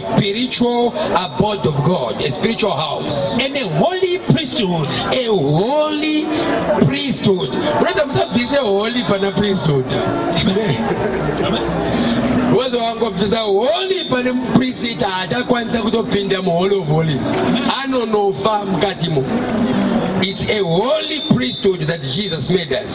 spiritual abode of God, a spiritual house, and a holy priesthood, a holy priesthood. Unaweza msafishe holy pana priesthood. Uwezo wangu afisa holy pana priest atakwanisa kutopinda mu hall of holies. Anonofa mkatimo. It's a holy priesthood that Jesus made us.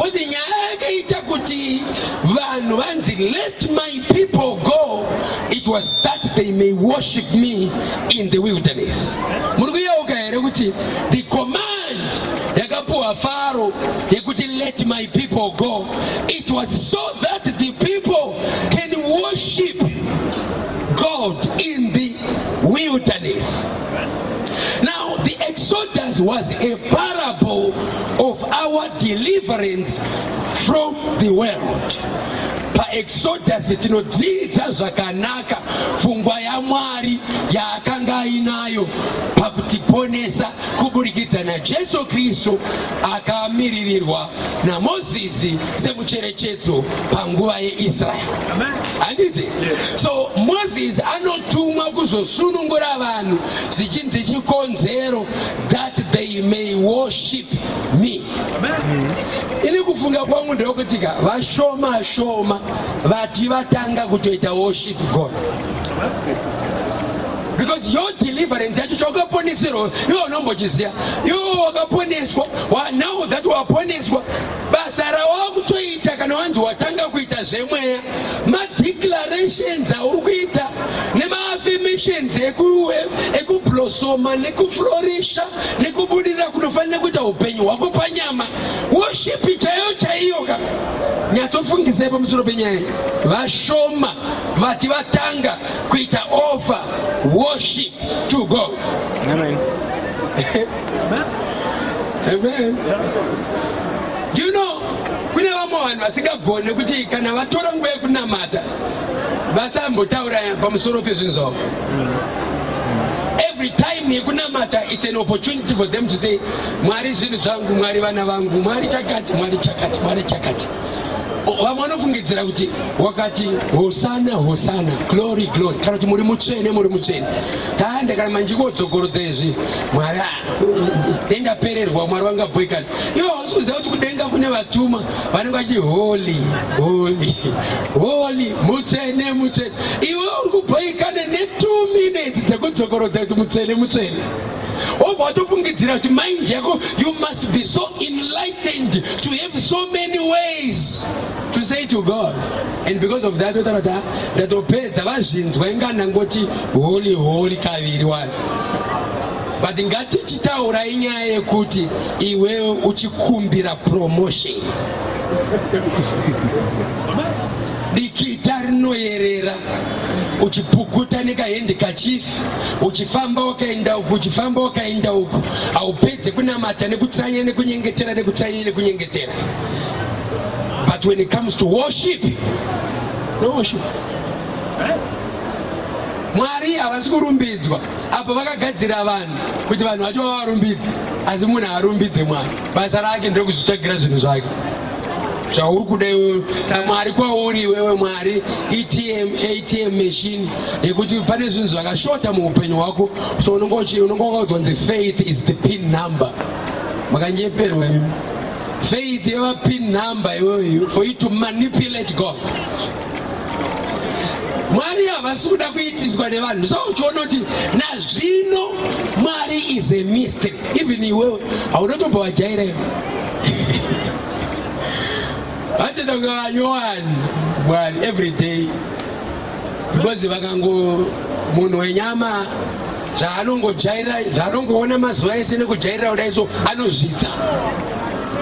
Kozi nyaya yakaita kuti vanhu vanzi let my people go it was that they may worship me in the wilderness. Muri kuyeuka here kuti the command yakapuwa Faro yekuti let my people go it was so that the people can worship God in the wilderness. Now the Exodus was a parable of our deliverance from the world paexodus tinodzidza zvakanaka pfungwa yamwari yaakanga ainayo pakutiponesa kuburikidza najesu kristu akamiririrwa namozisi semucherechedzo panguva yeisraeri handiti so mozisi anotumwa kuzosunungura vanhu zvichinzi chikonzero that they may worship me ini kufunga kwangu ndeyokutika vashoma shoma vati vatanga kutoita worship god because your deliverance yacho chaukaponeserwa iwe unombochiziva iwe wakaponeswa now that waponeswa basa rawakutoita kana wanzi watanga kuita zvemweya madeclarations auri kuita nemaaffirmations ekublosoma nekuflorisha nekubudirira kunofanira kuita upenyu hwako panyama woshipi chaiyo chaiyo ka nyatsofungisai pamusoro penyaya vashoma vati vatanga kuita over worship to god Amen. Amen. Do you know kune vamwe vanhu vasingagone kuti kana vatora nguva yekunamata vasambotaura pamusoro pezvinhu zvavo every time yekunamata it's an opportunity for them to say mwari zvinhu zvangu mwari vana vangu mwari chakati mwari chakati mwari chakati vamwe vanofungidzira kuti wakati hosana hosana glory glory kana kuti muri mutsvene muri mutsvene taanda kana manje kodzokorodza izvi mwari denga pererwa mwari wanga boikana ivo hausi kuziva kuti kudenga kune vatuma vanenge vachi holy holy holy mutsvene mutsvene iwe uri kuboikana ne two minutes dzekudzokorodza kuti mutsvene mutsvene obva watofungidzira kuti mind yako you must be so enlightened to have so many ways to say to god and because of that otaura kuti ah, ndatopedza vazvinzwa inga ndangoti holy holy kaviri wani but ngatichitaura inyaya yekuti iwewe uchikumbira promotion dikita rinoyerera uchipukuta nekahendi kachifi uchifamba wakaenda uku uchifamba wakaenda uku haupedze kunamata nekutsanya nekunyengetera nekutsanya nekunyengetera but when it comes to worship no worship mwari havasi kurumbidzwa apo vakagadzira vanhu kuti vanhu vacho vavarumbidze asi munhu haarumbidze mwari basa rake ndokuzvitsvagira zvinhu zvake zvauri kuda iwewe samwari kwauri iwewe mwari etm atm machine yekuti pane zvinhu zvakashota muupenyu hwako so unenge wakaudzwa nzi faith is the pin number makanyeperwa imi faith yava pin number iyoyo for you to manipulate god mwari havasi kuda kuitiswa nevanhu so uchiona kuti nazvino mwari is a mystery even iwewe haunotombo wajaira iwe vachitakuva vanyowani mwari every day because vakango munhu wenyama zvaanongojaira zvaanongoona mazuva ese nekujairira kudai so anozvidza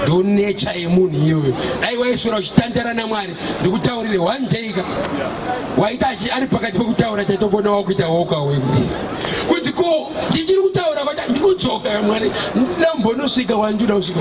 ndo necha yemunhu iyoyo dai waiswera uchitandara namwari ndikutaurire one day ka waita achi ari pakati pekutaura taitokuona wakuita woka wekudi kuti ko ndichiri kutaura kwata ndikudzoka mwari ndambonosvika wandiuda kusvika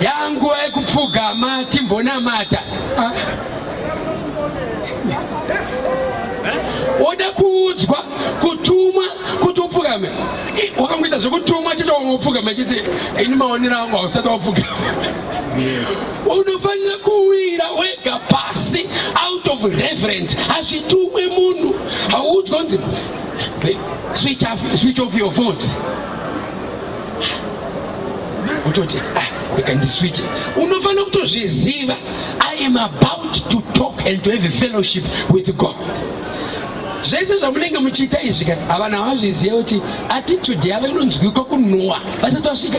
yanguva yekupfugama timbonamata ah. oda kuudzwa kutumwa kuti upfugame wakangoita zvekutumwa chete wamwe upfugame chiti ini maonero angu hausati wapfugama unofanira kuwira wega pasi out of reference hazvitumwe munhu hauudzwa kunzi switch off your phones kutoti ah, rega ndiswitche unofanira kutozviziva i am about to talk and to have a fellowship with god zvese zvamunenge muchiita izvi ka havana vazviziva kuti attitude yavo inonzwikwa kunhuwa vasati vasvika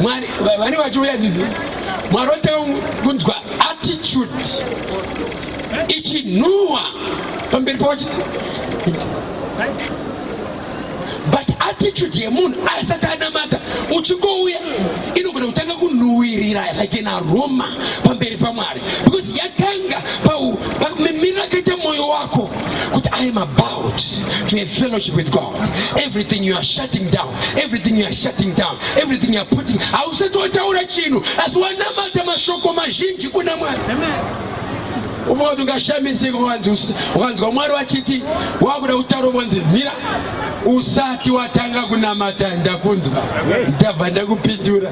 mwari vane vachiuya dzidzi mwari otanga kunzwa attitude ichinhuwa pamberi pawachiti but attitude yemunhu aisati anamata uchingouya inogona kutanga kunhuwirira like an aroma pamberi pamwari because yatanga pamimiro akaita mwoyo wako kuti i am about to have fellowship with god everything you are shutting down everything you are shutting down everything you are putting hausati wataura chinhu asi wanamata mashoko mazhinji kuna mwari Amen. Uvo ndingashamisi ukanzwa Mwari wachiti wakuda kutaura vonzi mira usati watanga kunamata ndakunzwa ndabva ndakupindura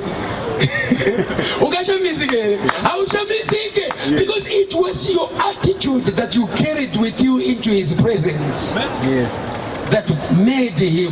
ukashamisike here haushamisike because it was your attitude that you carried with you into his presence yes. that made him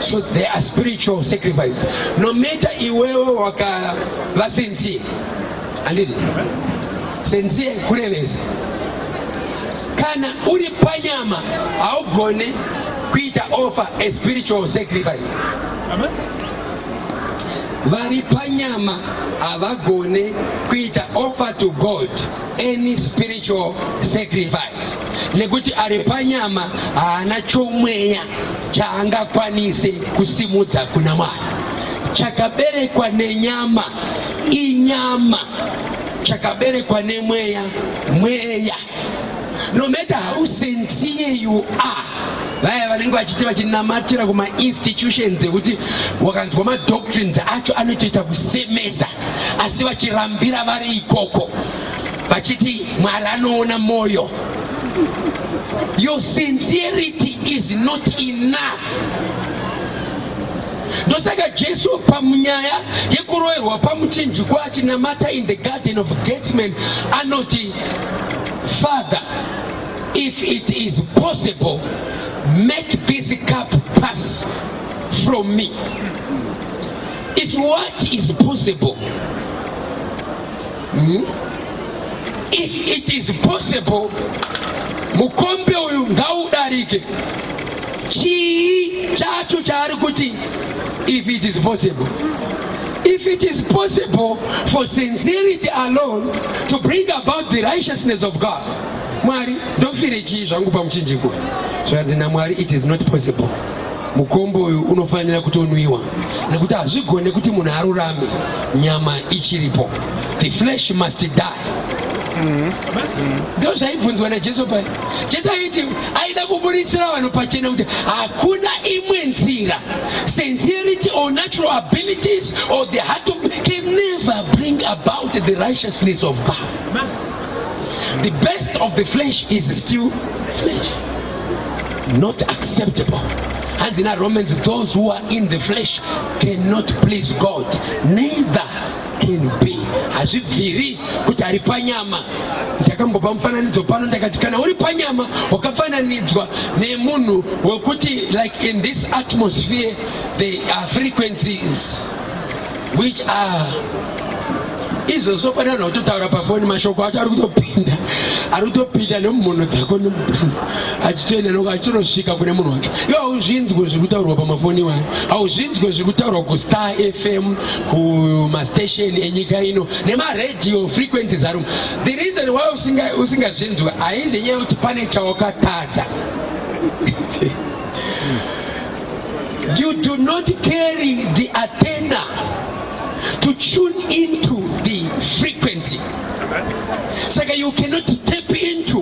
So they are spiritual sacrifice. No matter iwewe waka va sincere. Anditi? Sincere kurevesa. Kana uri panyama haugone kuita offer a spiritual sacrifice. Amen. Vari panyama havagone kuita offer to God any spiritual sacrifice nekuti ari panyama haana chomweya chaangakwanise kusimudza kuna Mwari. Chakaberekwa nenyama inyama, chakaberekwa nemweya mweya. No matter how sincere you are, vaya vanenge vachiti vachinamatira kuma institutions ekuti wakanzwa madoctrines acho anotoita kusemesa, asi vachirambira vari ikoko vachiti mwari anoona mwoyo your sincerity is not enough ndosaka jesu pamunyaya yekuroerwa pamuchinjikwa achinamata in the garden of gatsman anoti father if it is possible make this cup pass from me if what is possible mm? if it is possible mukombe uyu ngaudarike chii chacho chaari kuti if it is possible if it is possible for sincerity alone to bring about the righteousness of god mwari ndofire chii zvangu pamuchinjiko zvanzi namwari it is not possible mukombo uyu unofanira kutonwiwa nekuti hazvigone kuti munhu arurame nyama ichiripo the flesh must die ndo zvaibvunzwa najesu paya jesu aiti aida kuburitsira vanhu pachena kuti hakuna imwe nzira sincerity or natural abilities or the heart of can never bring about the righteousness of god the best of the flesh is still flesh not acceptable hanzi naromans those who are in the flesh cannot please god neither can be hazvibviri kuti ari panyama ndakambopa mufananidzo pano ndakati kana uri panyama wakafananidzwa nemunhu wekuti like in this atmosphere there are frequencies which are izvo zvofanirana kutotaura pafoni mashoko acho ari kutopinda ari kutopinda nemumhono dzako nemubrini achitoenda noko achitonosvika kune munhu wacho iyo hauzvinzwe zviri kutaurwa pamafoni iwayo hauzvinzwe zviri kutaurwa kustar fm kumastation enyika ino nemaradio frequencies arum the reason why usingazvinzwe haizi nyaya yekuti pane chawakatadza You do not carry the antenna to tune into the frequency. So you cannot tap into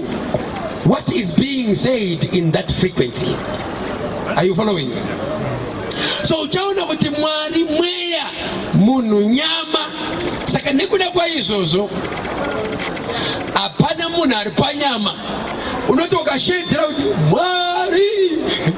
what is being said in that frequency. Are you following? So uchaona kuti Mwari mweya munhu nyama. Saka nekuda kwaizvozvo hapana munhu ari panyama unoti ukasheedzera kuti Mwari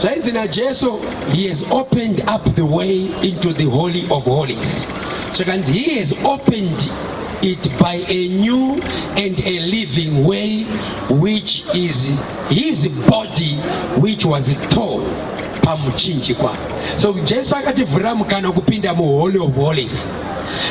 Zvainzi naJesu, he has opened up the way into the holy of holies. Zvakanzi he has opened it by a new and a living way which is his body which was tall pamuchinjikwa so jesu akativhurira mukana kupinda muholy of holies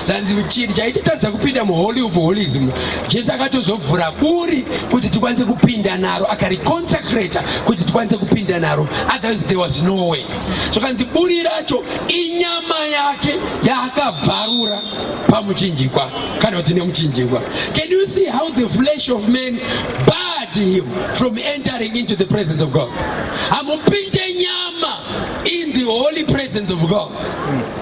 zvanzi chinhu chaititadza kupinda muholy of holies muno jesu akatozovhura buri kuti tikwanise kupinda naro akariconsecrata kuti tikwanise kupinda naro otherwise there was no way zvakanzi so, buri racho inyama yake yaakabvarura pamuchinjikwa kana kuti nemuchinjikwa can you see how the flesh of man barred him from entering into the presence of god amupinde nyama in the holy presence of god mm.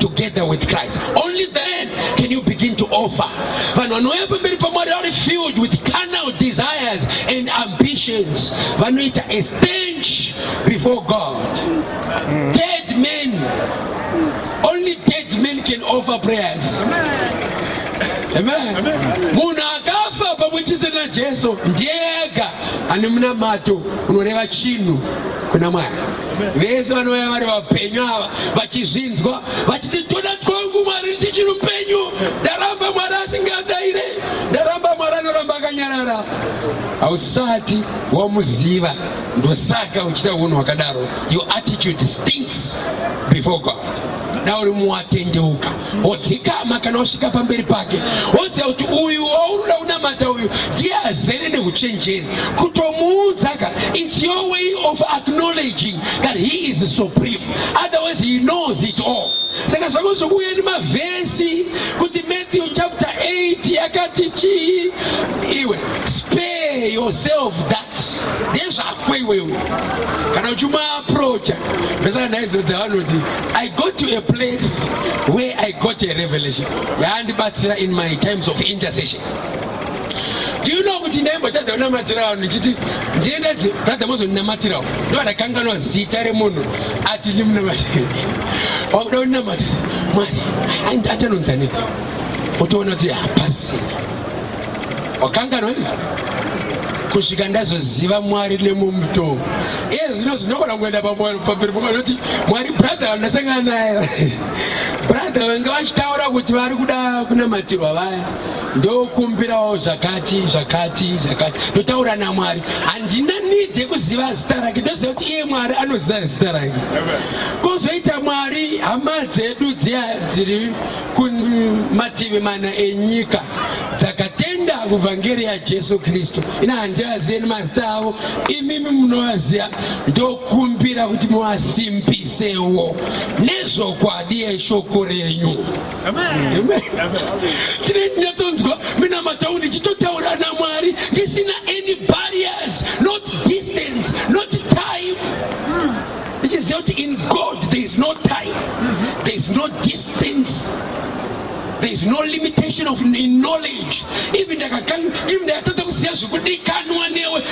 together with Christ. Only then can you begin to offer. Vanhu vanouya pamberi paMwari vari filled with carnal desires and ambitions. Vanoita a stench before God. Dead men. Only dead men can offer prayers. Amen. Munhu akafa pamwe chete naJesu ndiye ega ane munamato unoreva chinhu kuna Mwari. vese vanouya vari vapenyu ava vachizvinzwa vachiti toda twangu mwari tichiri upenyu ndaramba mwari asingadaire ndaramba mwari anoramba akanyarara hausati wamuziva ndosaka uchita unhu hwakadaro your attitude stinks before god dauri muwatendeuka wodzikama kana wasvika pamberi pake woziva kuti uyu waunoda kunamata uyu ndiye azere neuchenjeri kutomuudza ka its your way of acknowledging that he is supreme otherwise he knows it all saka zvako zvokuuya nemavhesi kuti matthew chapter 8 yakati chii iwe spare yourself that ndezvako iwewe kana uchimuaprocha ndosaka ndaizodza vanoti i go to a place where i got a revelation yaandibatsira in my times of intercession ndiuno kuti ndaimbotadza kunamatsira vanhu ndichiti ndienda brother mozondinamatirawo ndovandakanganwa zita remunhu ati ndimunamatira wakuda kuninamatira mwari atanonzanei otoona kuti hapasina wakanganwa ini kusvika ndazoziva mwari nemumutoo iye zvino zvinogona kuenda pamberi pokanoti mwari brother vandasangana naye brother vanga vachitaura kuti vari kuda kunamatirwa vaya ndokumbirawo zvakati zvakati zvakati ndotaura namwari handina nidhi yekuziva zita rake ndoziva kuti iye mwari anoziva zita rake kozoita mwari hama dzedu dziya dziri kumativi mana enyika dzakatenda kuvhangeri yajesu kristu ina handivazive nemazita avo imimi munovaziva ndokumbira kuti muvasimbisewo nezvokwadi yeshoko renyu tine ndinatonzwa mina mataundi chitotaura namwari ndisina any barriers not distance not time ichiziva kuti in god there is no time there is no distance things there is no limitation of knowledge even ndakatadza kuziva zvikudikanwa newe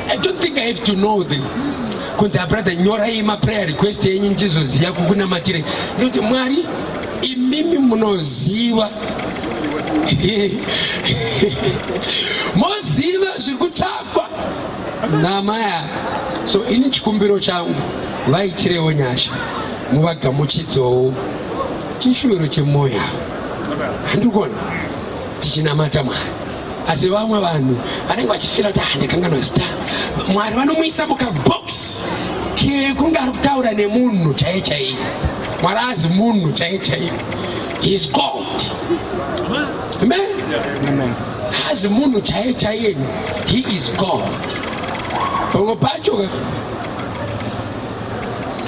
i don't think i have to know them kunzi abrother nyorai maprayer request yenyu ndichizoziva kukunamatire ndikuti mwari imimi munoziva moziva zviri kutsvakwa namai ava so ini chikumbiro changu vaitirewo nyasha muvagamuchidzowo chishuviro chemwoyo handikuona tichinamata mwari asi vamwe vanhu vanenge vachifira kuti handikanganwa zita mwari vanomuisa mukaboksi kunge ari kutaura nemunhu chaiye chaiye mwari azi munhu chaiye chaiye his god amen azi munhu chaiye chaiye he is god pamwe pacho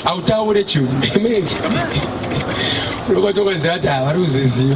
hautaure chinhu amen unokwatokonzira kuti havari kuzviziva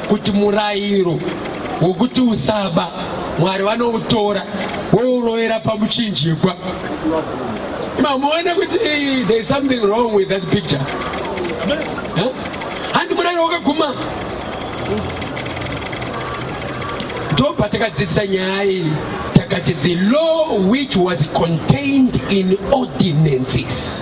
kuti murairo wokuti usaba mwari vanoutora wourovera pamuchinjikwa mamuone kuti there is something wrong with that picture hanzi murairo wakaguma ndo patakadzidzisa nyaya iyi takati the law which was contained in ordinances